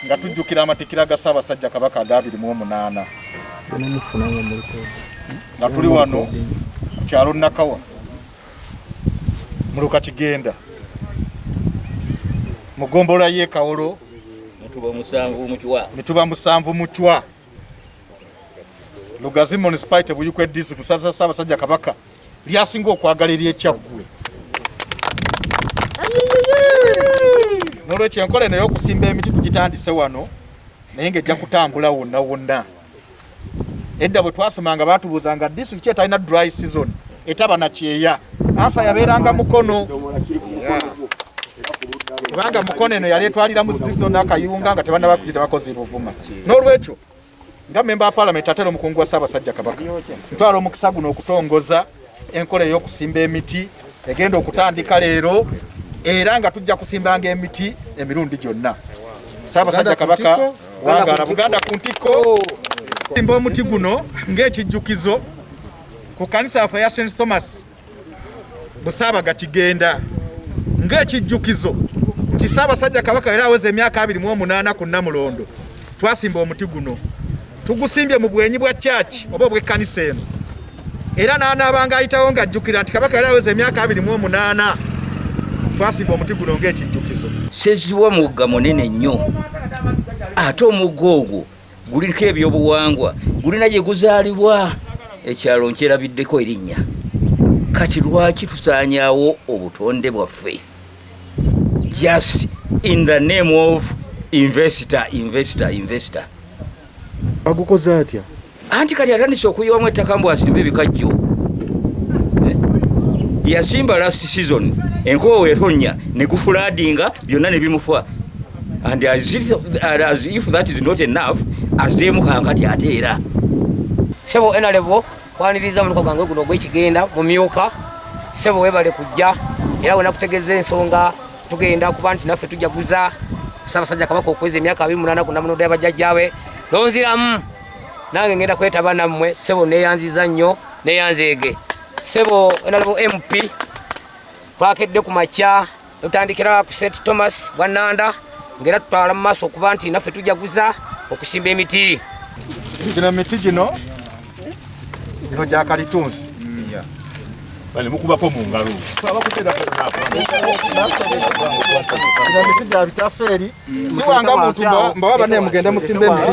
nga tujjukira amatikira ga Ssaabasajja Kabaka aga abiri mu omunaana nga tuli wano ku kyalo Nakawa muluka kigenda mu ggombolola y'e Kawolo mituba musanvu mucwa Lugazi municipality Buyikwe district kusasa Ssaabasajja Kabaka lyasinga okwagala ery'Ekyaggwe. Nolwekyo enkola eno y'okusimba emiti tugitandise wano naye ng'ejja kutambula wonna wonna. Edda bwe twasomanga baatubuuzanga disitulikiti etalina dry season etaba na kyeya asa yabeeranga mukono kubanga mukono eno yali etwalira mu sitiso n'akayunga nga tebanaba kugita bakozi buvuma n'olwekyo nga memba wa palamenti ate era omukungu wa ssaabasajja kabaka ntwala omukisa guno okutongoza enkola ey'okusimba emiti egenda okutandika leero era nga tujja kusimbanga emiti emirundi gyonna ssaabasajja kabaka wangala buganda ku ntikko simba omuti guno ng'ekijjukizo ku kanisa yaffe ya St Thomas Busaabaga kigenda ng'ekijjukizo nti Ssaabasajja Kabaka era aweza emyaka abiri mu omunaana ku Namulondo twasimba omuti guno tugusimbye mu bwenyi bwa church oba obw'ekkanisa eno era n'anaabanga ayitawo ng'ajjukira nti Kabaka yali aweza emyaka abiri mu omunaana twasimba omuti guno ng'ekijjukizo. Sezibwa mugga munene nnyo ate omugga ogwo guliko ebyobuwangwa gulina gye guzaalibwa ekyalo nkyerabiddeko erinnya kati lwaki tusaanyawo obutonde bwaffe just in the name of investor investor investor agukoze atya anti kati atandise okuyiwamu ettaka mbu asimba ebikajjo eh? yasimba last season enkoowe etonya ne gufuladinga byonna ne bimufa and as if, as if that is not enough azeemu kankati ate era sebo enalebo kwaniriza muluka gwange guno ogwekigenda mumyuka sebo webale kujja era wena kutegeza ensonga tugenda kuba nti naffe tujaguza sabasajja kabaka okweza emyaka abiri munana kunamunoda yabajjajjawe nonziramu nange ngenda kwetaba nammwe sebo neyanziza nnyo neyanzeege sebo enalebo mp twakedde ku makya tutandikira ku st thomas bwa nanda ngaera tutwala mu maaso okuba nti naffe tujaguza okusimba emiti gino emiti gino gino gyakalitunsi bale mukubako mu ngalo emiti gya bitafeeri siwanga muntu mbawaba nemugende musimba emiti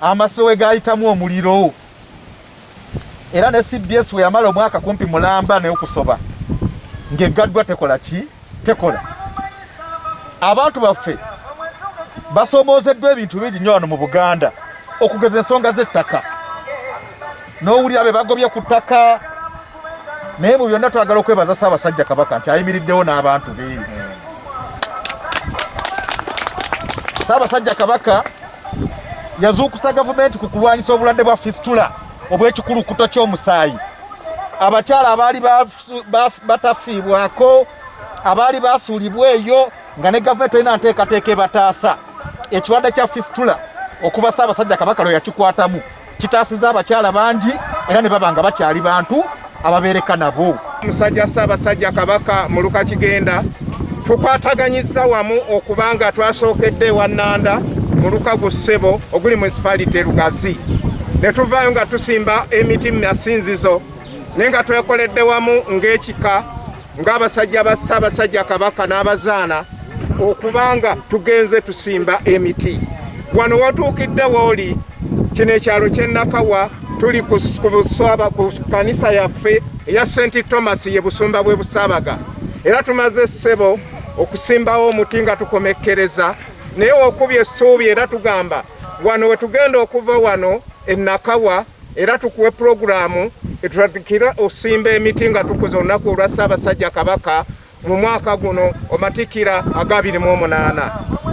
Amaso we gaayitamu omuliro era ne cbs we yamala omwaka kumpi mulamba n'okusoba ng'eggaddwa tekola ki tekola abantu baffe basoomoozeddwa ebintu bingi nnyo wano mu buganda okugeza ensonga z'ettaka n'owulira be bagobye ku ttaka naye mu byonna twagala okwebaza ssaabasajja kabaka nti ayimiriddewo n'abantu be ssaabasajja kabaka yazuukusa gavumenti ku kulwanyisa obulwadde bwa fistula obw'ekikulukuto ky'omusaayi abakyala abaali batafiibwako abaali basuulibwa eyo nga ne gavumenti erina nteekateeka ebataasa ekirwadde kya fistula okuva ssaabasajja kabaka lwe yakikwatamu Kitaasiza abakyala bangi era ne baba nga bakyali bantu ababeereka nabo. Musajja Ssaabasajja Kabaka Muluka Kigenda tukwataganyizza wamu okuba nga twasookedde ewa Nanda mu lukago ssebo oguli munisipalite Lugazi ne tuvaayo nga tusimba emiti mu masinzizo naye nga twekoledde wamu ng'ekika ng'abasajja ba Ssaabasajja Kabaka n'abazaana okubanga tugenze tusimba emiti wano watuukidde wooli kino ekyalo kyennakawa tuli ku kanisa yaffe eya senti thomas ye busumba bwe busaabaga era tumaze essebo okusimbawo omuti nga tukomekkereza naye okubya essuubi era tugamba wano wetugenda okuva wano ennakawa era tukuwe pulogulaamu etutandikira okusimba emiti nga tukuza olunaku olwa ssaabasajja kabaka mu mwaka guno omatikira aga 28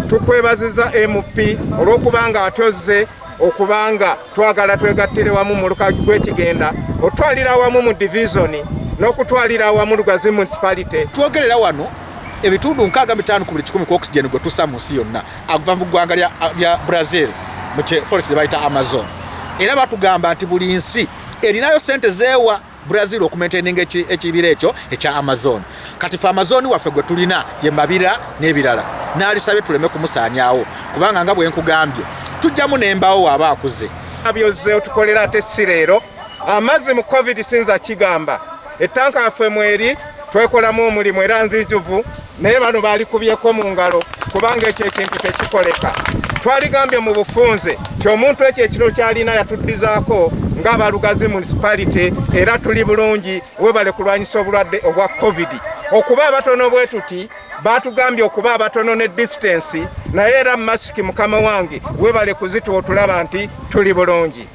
tukwebaziza mp olw'okuba nga atozze okubanga twagala twegattire wamu mu lukaji gw'ekigenda otwalira wamu mu divizoni n'okutwalira wamu lugazi municipality twogerera wano ebitundu nkaaga mitaano ku buli kikumi ku oxygen gwe tusa mu nsi yonna aguva mu ggwanga lya brazil mu forest bayita amazon era batugamba nti buli nsi erinayo sente zeewa brazil okumaintaininga ekibira ekyo ekya amazon kati fe amazon waffe gwe tulina ye mabira n'ebirala naalisabye tuleme kumusaanyawo kubanga nga bwenkugambye tujjamu nembawo waaba akuze abyoze otukolera ate si leero amazzi mu covid sinza kigamba ettanka yaffe mweri twekolamu omulimu era nzijuvu naye bano balikubyeko mu ngalo kubanga ekyo ekintu tekikoleka twaligambye mu bufunze ti omuntu ekyo ekiro kyalina yatuddizaako ng'abalugazi municipality era tuli bulungi webale kulwanyisa obulwadde obwa covid okuba abatono bwe tuti batugambye okuba abatono ne disitansi naye era masiki mukama wange webale kuzita otulaba nti tuli bulungi